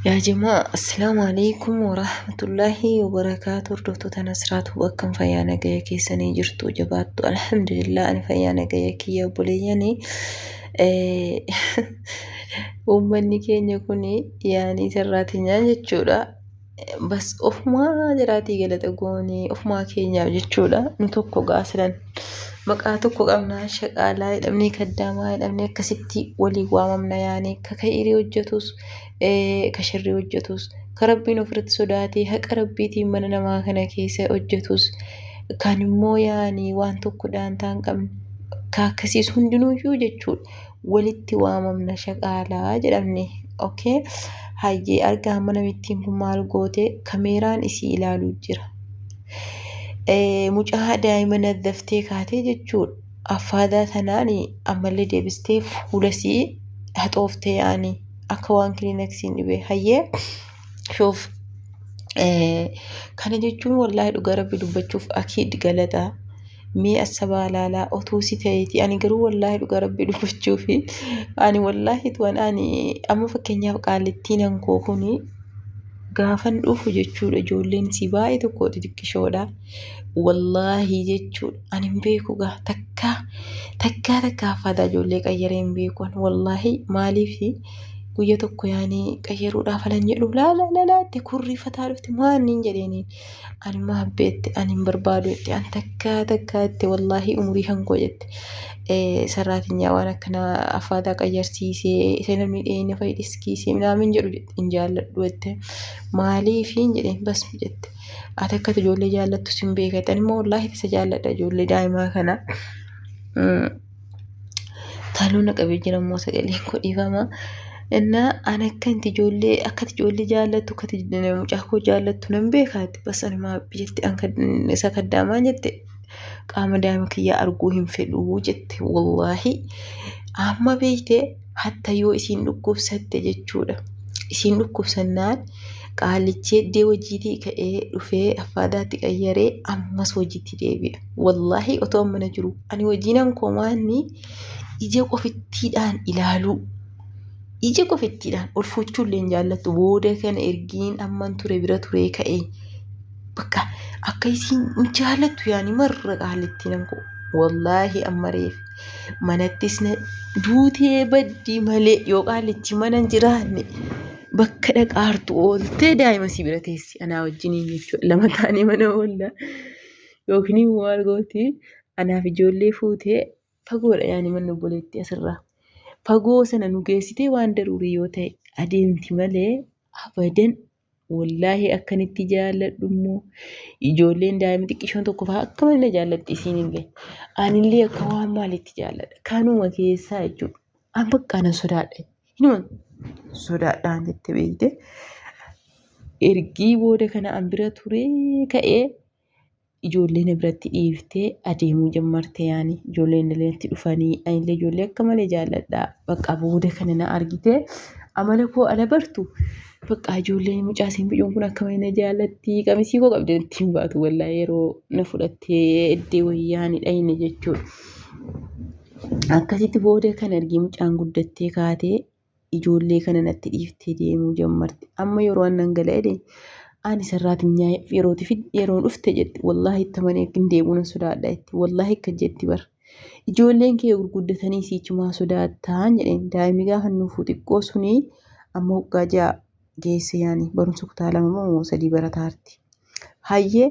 Yaa jamaa assalaamu alaikum warahmatullaahi wabarakaatu hordoftoota nasraatu akkam fayyaa nagaya keessanii jirtu jabaattu alhamdulillah ani fayyaa nagaya kiyya obboleeyyani uummanni keenya kun yaanii sarraatinyaan jechuudha bas ofumaa jiraatii galata goonee ofumaa keenyaaf jechuudha nu tokko gaasilan maqaa tokko qabnaa shaqaalaa jedhamnee kaddaamaa jedhamnee akkasitti waliin waamamna yaanii ka ka'irii hojjetus ka shirrii hojjetus ka rabbiin ofirratti sodaatee haqa rabbiitiin mana namaa kana keessa hojjetus kan immoo yaanii waan tokko daantaa hin qabne ka akkasiis hundinuyyuu jechuudha. walitti waamamna shaqaalaa jedhamne ok hayyee argaa amma namittiin kun maal goote kameeraan isii ilaaluu jira mucaa daa'ima naddaftee kaatee jechuudha affaadaa tanaan ammallee deebistee fuula isii haxooftee yaani akka waan kilinaksiin dhibee hayyee shuuf kana jechuun wallaahi dhugaa rabbi dubbachuuf akiid galata mee assabaa laalaa otuu si ta'eeti ani garuu wallaahi dhugaa rabbi dubbachuuf ani wallaahi tuwan ani amma fakkeenyaaf qaalittiin ankoo kuni gaafan dhufu jechuudha ijoolleen si baay'ee tokko xixiqqishoodha wallaahi jechuudha ani hin beeku gaa takkaa takkaa takkaa faadaa ijoollee qayyaree hin beeku wallaahi maaliifi guyya tokko yaani qayyaruudhaaf alan jedhu laala lala itti kurriifataa dhufti maanniin jedheeniin ani maabbe itti ani hin barbaadu itti ani takkaa takkaa itti wallaahi umurii hankoo jette sarraatinyaa waan akkana affaataa qayyarsiisee isa namni dhiyeenya fa'i dhiskiisee minaamin jedhu hin jaalladhu jette maaliifiin jedheen basmi jette ati akkati ijoollee jaallattu sin beekatti ani immoo wallaahi isa jaalladha ijoollee daa'imaa kana. Taaloo na qabee jira immoo sagaleen koo dhiifama. Innaa an akka inti ijoollee akka ati ijoollee jaallattu akka ati mucaa koo jaallattu nan beekaati. Bas ani maa jette an isa kaddaamaa jette qaama daa'ima kiyyaa arguu hin fedhuu jette wallaahi amma beeyte. hatta yoo isiin dhukkubsatte jechuudha. Isiin dhukkubsannaan qaalichi eddee hojiitii ka'ee dhufee affaadaatti qayyaree ammas hojiitti deebi'a. Wallaahi otoo mana jiru ani hojiinan komaanni ija qofittiidhaan ilaaluu. Ija qofittiidhaan ol fuuchuullee hin jaallattu booda kana ergiin amman ture bira turee ka'e bakka akka isiin hin jaalattu yaani marra qaalittiin ankoo wallaahi amma reef manattis na duutee baddii malee yoo qaalitti mana hin jiraanne bakka dhaqaartu ooltee daa'ima si bira teessi anaa wajjiniin jechuudha lama taanee mana oolla yookiin immoo maal gooti anaaf ijoollee fuutee fagoodha yaani manni obboleetti asirraa fagoo sana nu geessitee waan daruurii yoo ta'e adeemti malee abadan Wallaahi akkan itti jaalladhu immoo ijoolleen daa'imni xiqqishoon tokko fa'aa akka malee na jaallatti isiinillee. Anillee akka waan maaliitti jaalladha. Kanuma keessaa jechuudha. An bakka nan sodaadha. Hinuma sodaadhaan jette beekte. Ergii booda kana an bira turee ka'ee ijoollee na biratti dhiiftee adeemuu jammarte yaani ijoolleen illee itti dhufanii anillee ijoollee akka malee jaalladha bakka booda kana na argite amala koo ala bartu bakka ijoolleen mucaa siin bicuun kun akka malee na jaallatti qamisii koo qabdee itti hin baatu wallaa yeroo na fudhattee eddee wayyaani dhayne jechuudha. Akkasitti booda kan argii mucaan guddattee kaatee ijoollee kana natti dhiiftee deemuu jammarte amma yeroo an nan gala jedhe ani sarraatinyaa yerootii fi yeroo dhufte jette wallaahi itti amanee akka hin deebi'u nan sodaadha jette wallaahi akka jetti bar ijoolleen kee gurguddatanii siichumaa sodaattaan jedheen daa'imni gaafa nuufuu xiqqoo suni amma waggaa ja'a geesse yaani barumsa kutaa lama moo sadii barataarti hayyee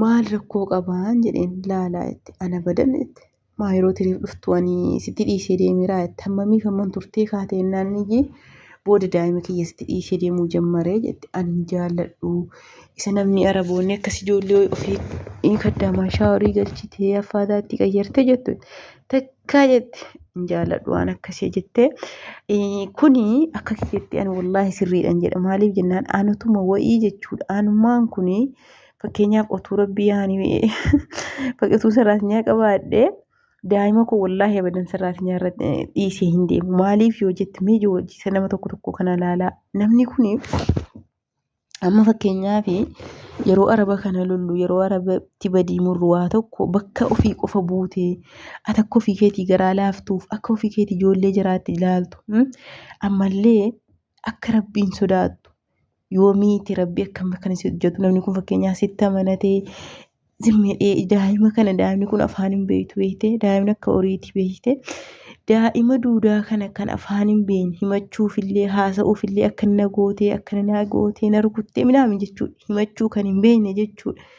maal rakkoo qabaan jedheen laalaa jette ana badan jette maa yeroo tiriif dhuftu ani sitti dhiisee deemeeraa jette hammamiif hamman turtee kaate jennaan niyyi booda daa'ima kiyya sitti dhiisee deemuu jammaree jette ani hin jaalladhu isa namni araboonni akkas ijoollee ofii ni kaddaamaa shaaworii galchitee affaataa itti qayyarte jettu takkaa jette hin jaalladhu waan akkasii jette kuni akka kiyyetti ani wallaahi sirriidhan jedha maaliif jennaan anutuma wa'ii jechuudha anummaan kuni fakkeenyaaf otuu rabbii yaani fakkatu saraatinyaa qabaadhee daa'ima koo wallaahi abadan saraatinyaa irra dhiisee hin deemu maaliif yoo jette mee ijoo wajjiisa nama tokko tokko kana laalaa namni kun amma fakkeenyaaf yeroo araba kana lollu yeroo arabatti badii murru waa tokko bakka ofii qofa buutee ati akka ofii keetii garaa laaftuuf akka ofii keetii ijoollee jiraatti ilaaltu ammallee akka rabbiin sodaattu Yoomiiti rabbi akkam akkana si hojjetu namni kun fakkeenyaa sitti amanatee zimmedhee daa'ima kana daa'imni kun afaan hin beektu beektee daa'imni akka horiiti beektee daa'ima duudaa kana kan afaan hin beekne himachuufillee haasa'uufillee akka na gootee akka na gootee na rukuttee midhaame jechuudha himachuu kan hin beekne jechuudha.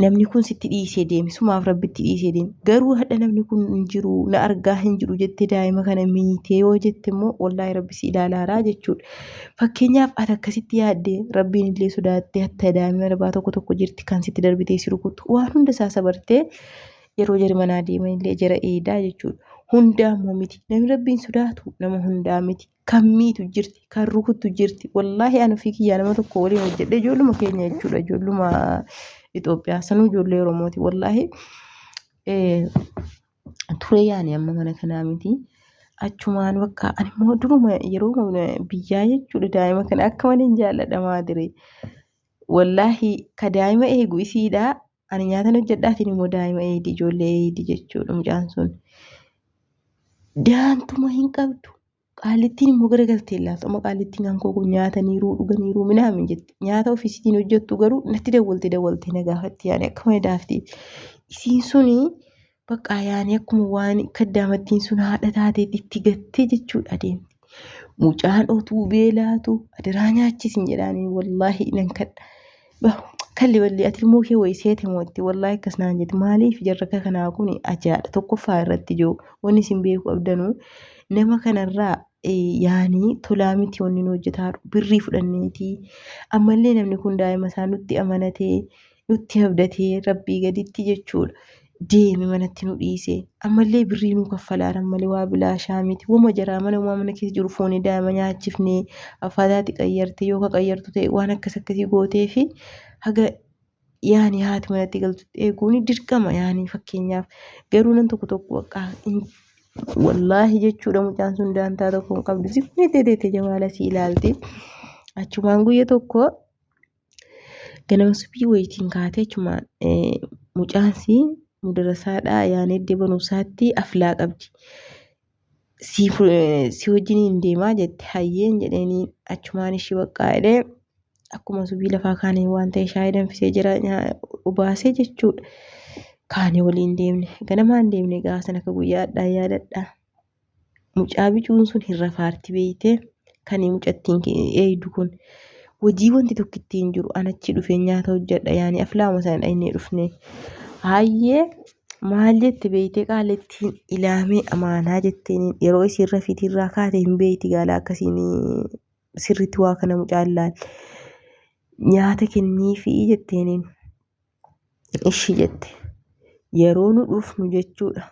namni kun sitti dhiisee deeme sumaaf rabbitti dhiisee deeme garuu hadha namni kun hin jiru na argaa hin jiru jettee daa'ima kana miitee yoo jette immoo wallaahi rabbi si ilaalaaraa jechuudha. Fakkeenyaaf ati akkasitti yaadde rabbiin illee sodaattee hatta daa'ima darbaa tokko tokko jirti kan sitti darbitee si rukuttu waan hunda isaa sabartee yeroo jari manaa deeman illee jara eedaa jechuudha. Hundaa immoo miti namni rabbiin sodaatu nama hundaa miti kan miitu jirti kan rukuttu jirti wallaahi an ofii kiyyaa nama tokko waliin hojjedhe ijoolluma keenya jechuudha ijoolluma Itoophiyaa sanuu ijoollee Oromooti wallaahi turee yaani amma mana kanaa miti achumaan bakka ani immoo duruma yeroo biyyaa jechuudha daa'ima kana akka malee hin jaalladha maadire wallaahi ka daa'ima eegu isiidha Ani nyaatan hojjedha atiin immoo daa'ima eeydi ijoollee eeydi jechuudha mucaan sun. Daantuma hin qabdu. Qaallittiin immoo gara galtee ilaaltu amma qaallittiin kan koo kun nyaataniiruu dhuganiiruu minaamin jette nyaata ofiisitiin hojjettu garuu natti dawwalte dawwalte na gaafatti yaani akkuma daafti isiin suni Baqqaa yaani akkuma waan kaddaamattiin sun haadha taateet itti gattee jechuudha adeemti. Mucaan otuu beelaatu adiraa nyaachisin jedhaaniin wallaahi nan kadha. Bah, Kalli balli ati ilmoo kee wayii seete moo itti wallaahi akkas naan jedhe maaliif jarraka kanaa kun ajaadha tokkoffaa irratti ijoo wanni isin beeku qabdanu nama kanarraa eh, yaani tolaa miti wanni nu hojjetaa jiru. birrii fudhanneetii ammallee namni kun daa'ima isaa nutti amanatee nutti abdatee rabbii gaditti jechuudha. Deeme manatti nu dhiise. Ammallee birrii nu kaffalaaran malee waa bilaashaa miti. Wama jaraa mana umaa mana keessa jiru foonii daa'ima nyaachifnee affaataati qayyarte yoo ka qayyartu ta'e waan akkas akkasii gootee fi haga yaani haati manatti galtutti eeguun dirqama yaani fakkeenyaaf. Garuu nan tokko tokko bakka wallaahi jechuudha mucaan sun daantaa tokko hin qabdu. Sikkuu jettee teette jamaala si ilaalti. Achumaan guyya tokko Ganama subii wayitiin kaatee chuma mucaansi mudarasaadhaa yaanee iddoo barumsaatti aflaa qabdi. Si wajjin hin deemaa jette hayyeen jedheenii achumaan ishii baqqaa jedhee akkuma subii lafaa kaanii waan ta'e shaayii danfisee jira obaasee jechuudha. Kaanii waliin deemne ganamaan deemne gaasan akka guyyaadhaa yaadadhaa. Mucaa bicuun sun hin rafaarti beeyte kani mucattiin eeydu kun wajii wanti tokko ittiin jiru an achi dhufee nyaata hojjedha yaani aflaama sana dhaynee dhufne haayyee maal jette beeyte qaalittiin ilaamee amaanaa jetteen yeroo isiin rafiitii irraa kaate hin beeyti gaala akkasiin sirritti waa kana mucaan laal nyaata kennii fi jetteeniin Ishi jette. Yeroo nu dhufnu jechuudha.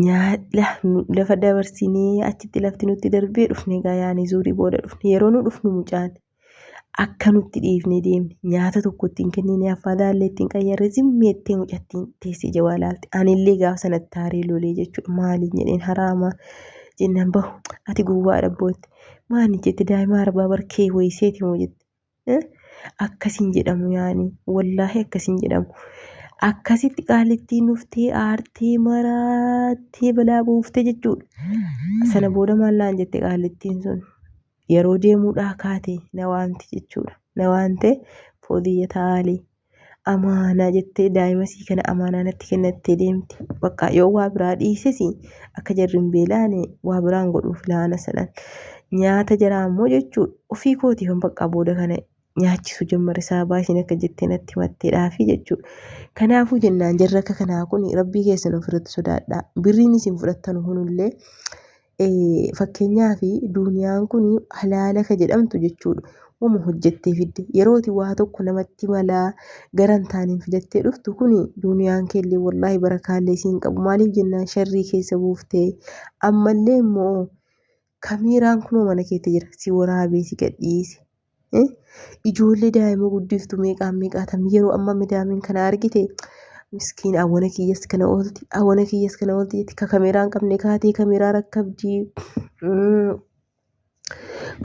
Nyaadha lafa dabarsinee achitti lafti nutti darbee dhufne egaa yaani zuurii booda dhufne. Yeroo nu dhufnu mucaan akka nutti dhiifne deemne nyaata tokko ittiin kennine affaa daallee ittiin qayyarre zimmeettee mucattiin teessee jawaa laalte. Anillee gaafa sanatti taaree lolee jechuudha. Maaliin jedheen haraama jennaan bahu ati gowwaadha bootte. Maani jette daa'ima arbaa barkee wayiseeti moo jette. Akkasiin jedhamu yaani wallaahi akkasiin jedhamu. Akkasitti qaalittiin dhuftee aartee maraattee balaa buuftee jechuudha. Sana booda maal naan jette qaalittiin sun yeroo deemuudhaa kaate na waamti jechuudha. Na waamtee foodiyya taalii. amaanaa jettee daa'ima sii kana amaanaa natti kennattee deemti. Bakka yoo waa biraa dhiises akka jarri hin beelaane waa biraan godhuuf laana sanan. Nyaata jaraa immoo jechuu ofii kooti kan bakka booda kana nyaachisu jammare saabaa isin akka jettee natti matteedhaafi jechuudha. Kanaafuu jennaan jarri akka kanaa kun rabbii keessan ofirratti sodaadhaa. Birriin isin fudhattan kunillee Fakkeenyaaf duuniyaan kun halaala ka jedhamtu jechuudha. Wama hojjettee fidde yerooti waa tokko namatti malaa gara hin taaneen fidattee dhuftu kun duuniyaan keellee wallaahi barakaallee isiin qabu maaliif jennaan sharrii keessa buuftee ammallee immoo kamiiraan kunoo mana keetti jira si waraabee si gadhiise Ijoollee daa'ima guddiftu meeqaan meeqaatam yeroo amma midaamiin kana argite miskiin awwana kiyyas kana oolti awwana kiyyas kana oolti jetti ka kameeraa hin qabne kaatee kameeraa rakkabdi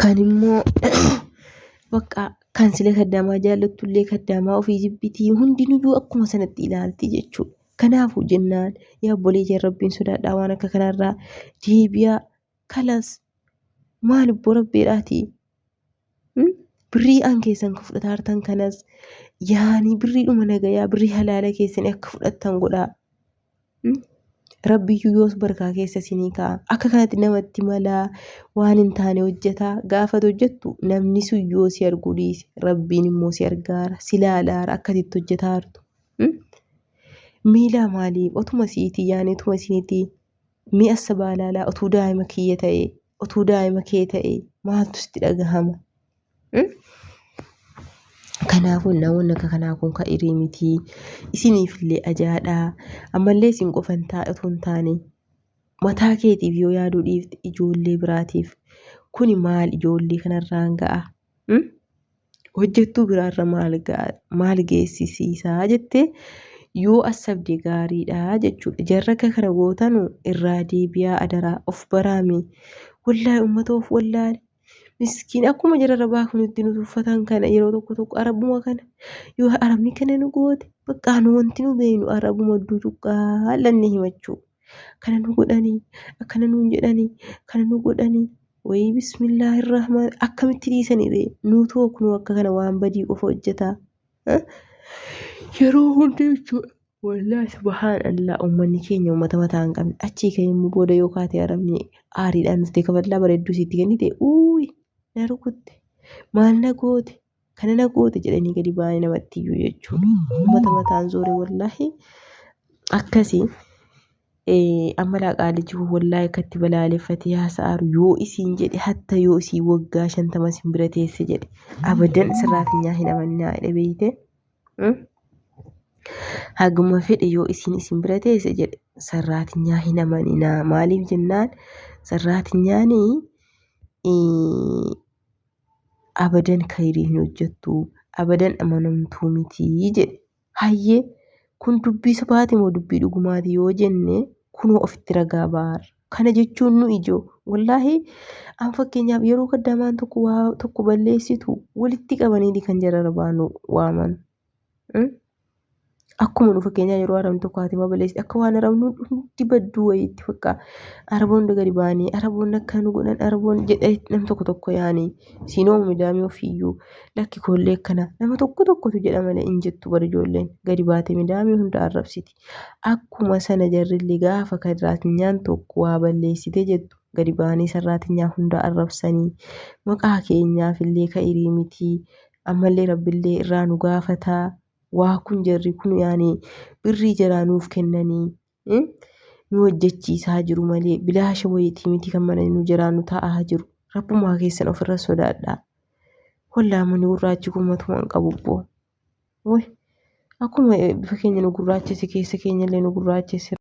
kan immoo bakka kan sila kaddaamaa jaallattu illee kaddaamaa ofii jibbitii hundinuyyuu akkuma sanatti ilaalti jechuudha. Kanaafuu jennaan yaa obboleeyyan rabbiin sodaadhaa waan akka kanarraa deebi'aa Kalas maal obbo rabbiidhaati Hmm? birrii an keessan ka fudhataa hartan kanas yaani birrii dhuma nagayaa birrii halaala keessan akka fudhattan godhaa Hmm? rabbiyyuu yoos barkaa keessa isinii ka'a akka kanatti namatti malaa waan hin taane hojjetaa gaafat hojjettu namni sun yoo si arguu dhiise rabbiin immoo si argaara si laalaara akkatitti hojjetaa hartu Hmm? miilaa maaliif otuma siitii yaani otuma isinitii Mi'a sabaalaalaa utuu daa'ima kiyya ta'ee, utuu daa'ima kee ta'ee maaltu sitti dhagahama? Hmm? Kanaafuu namoonni akka kanaa kun kan irii miti. Isiniifillee ajaadha. Ammallee isin qofa hin taa'e utuu hin taane mataa keetiif yoo yaaduu dhiifte ijoollee biraatiif kuni maal ijoollee kanarraan ga'a? Hmm? Hojjettuu biraarra maal gaa- maal geessisiisaa jettee yoo assabde gaariidha jechuudha. Jarri akka kana gootanu irraa deebi'aa adaraa of baraami. Wallaahi uummata of wallaale. Miskiin akkuma jararra baafnu itti nu tuffatan kana yeroo tokko tokko arabuma kana yoo arabni kana nu goote baqqaa nu wanti nu beeknu arabuma ducuqqaa lannee himachuu. kana nu godhanii akkana nuun jedhanii kana nu godhanii wayii bismillaahi irrahmaan akkamitti dhiisanii ree nuutu kunuu akka kana waan badii qofa hojjetaa Eh? yeroo hundi jechuudha wallaahi subhaan allaa ummanni keenya ummata mataa hin qabne achii ka'ee immoo booda yoo kaatee arabni aariidhaan dhuftee kaballaa bareedduu siitti kennite uuyi na rukutte maal na goote Kana na goote jedhanii gadi ba'anii namatti iyyuu jechuudha. Uummata mataan zoore wallaahi akkasii eh, amma laaqaa liji kun wallaahi akkatti balaaleffatee haasa'aaru yoo isiin jedhe hatta yoo isii waggaa shantama isin bira teesse jedhe abadan sirraatinyaa hin amannaa jedhe beeyte. Mm? Haguma fedhe yoo isiin isin bira teesse jedhe sarraatinyaa hin amaninaa maaliif jennaan sarraatinyaanii eh, abadan kayrii hin hojjettu abadan amanamtuu miti jedhe hayyee kun dubbii sobaati moo dubbii dhugumaati yoo jenne kunoo ofitti ragaa baar kana jechuun nu ijoo wallaahi an fakkeenyaaf yeroo kaddamaan tokko waa tokko balleessitu walitti qabaniiti kan jararbaanu waaman Akkuma nu fakkeenyaa yeroo arabni tokko haati balleessi akka waan arabni hundi badduu wayii itti fakkaa araboonni gadi ba'anii araboonni akka nu godhan araboonni jedhee nam tokko tokko yaani siinoo midaamee ofiiyyuu lakki koollee akkana nama tokko tokkotu jedha malee hin jettu bari ijoolleen gadi baatee midaamee hunda arrabsiti. Akkuma sana jarrillee gaafa kadiraatinyaan tokko waa balleessitee jettu gadi ba'anii sarraatinyaan hunda arrabsanii maqaa keenyaafillee ka'irii mitii ammallee rabbillee irraa nu gaafata waa kun jarri kun yaani birrii jaraa nuuf kennanii nu hojjechiisaa jiru malee bilaasha wayitii miti kan mana nu jaraa nu taa'aa jiru rabbumaa keessan ofirra sodaadhaa wallaamani gurraachi kun matuma hin qabu boo way akkuma bifa keenya nu gurraachesse keessa keenyallee nu gurraachesse